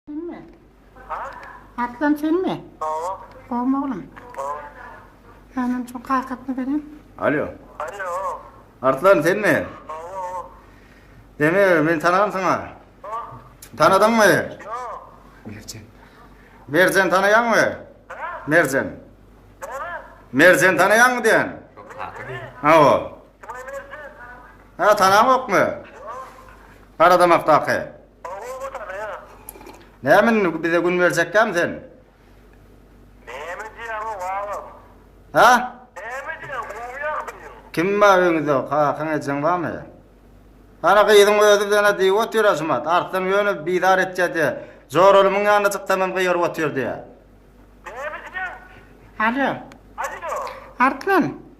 Senmi? Arslan senmi? Hawa. Gowmy oglum? Gowy. Ýa şu kartasyny beriň. Alo. Alo. Arslan senmi? Gowy. Seni men tanagam saňa. Tanadyňmy? Ýok. Merjen. Merjen tanaýaňmy? Merjen. Merjen tanaýaňmy diýen? Hawa. Ha tanamokmy? Garadamakdaky. Oba watany ýa. Näme indi bize gün berjekkämi sen? Näme diýýäň ow agam? Hä? Näme diýýäň gowy ýagdaýyň? Kim bar öýüňizde kakaň ejeň barmy? Ana gyzyň özi bilen-ä diýip otyr Ažymat, Arslan ýöne bizar etýädi, Joralymyň ýanyna çyksamam gygyryp otyr diýýä. Näme diýýäň? Alo. Alýo. Arslan.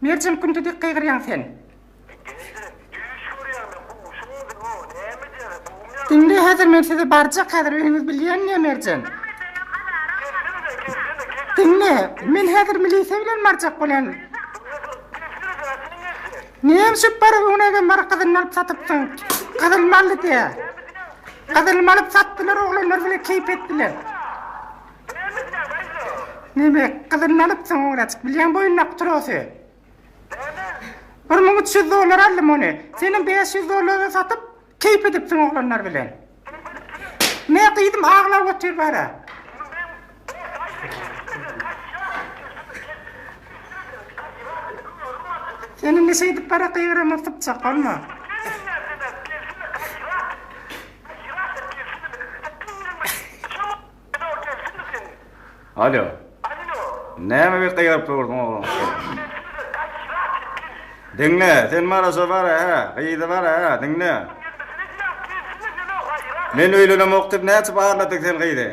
Merjen künti dik gygyrýaň sen. Indi sen düýş görýäňdä gowşuň özi o näme jere bogumýaň. Diňle häzir men sizi barjak häzir öýüňiz bilýänine Merjen. Diňle men häzir milisiýa bilen barjak bolýan. Näme şüp bar öňüne egem bar gyzyny alyp satypsyň gyzyl mally diýä. Gyzyl malyp satdylar oglanlar bile keýp etdiler. Neme, gyzyny alypsyň ograjyk, bilýäň boýundaky trosy? Näme? Bir müň üç ýüz dollara aldym ony. Seniň bäş ýüz dollara satyp, keýp edipsiň oglanlar bilen. Nä gyzym, aglap otur bara. Sen indi şeýdip bara gygyryma sypjak, bolma. Alo gelsene sen. Alo. Alo. Näme bir gygyryp durdyň oglan sen. Diňle, sen maraşa bara hä, gyzy bara hä, diňle. Men öýlenemok diýip näçe barladyň sen gyzy?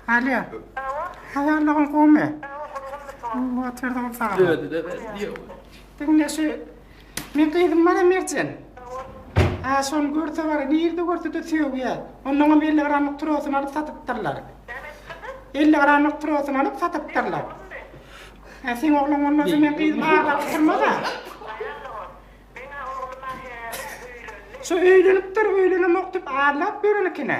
Alo. Haýallaryň gowmy? Oturdym saňa. Diňle şu Meň gyzym bara Merjen. Aa şony görse bara nirde görsede sögýä. Ondanam elli gramlyk trosyny alyp satypdyrlar. Elli gramlyk trosyny alyp satypdyrlar. Aa seň oglan bolmasa meň gyzym aglaryp durmaz a. Şu öýlenipdir öýlenemok dip aglap ýörenikine.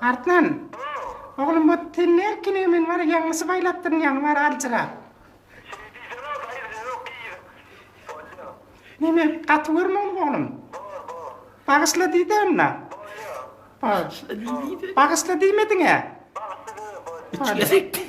Artman, oglum bu tenli erkinigi men bar ýaňlysy baýlatdyryn ýaňy bar aljyrap. Şeýle diýsene, daýy bize ýok diýýä. Bolýa. Neme, gaty görmegiň oglum? Bor, bor. Bagyşla diýdä onda. Bolýa. Bor. Bagyşla diýmediňä. Bagyşla diýdim, bolýa. Üç gezek diýdi.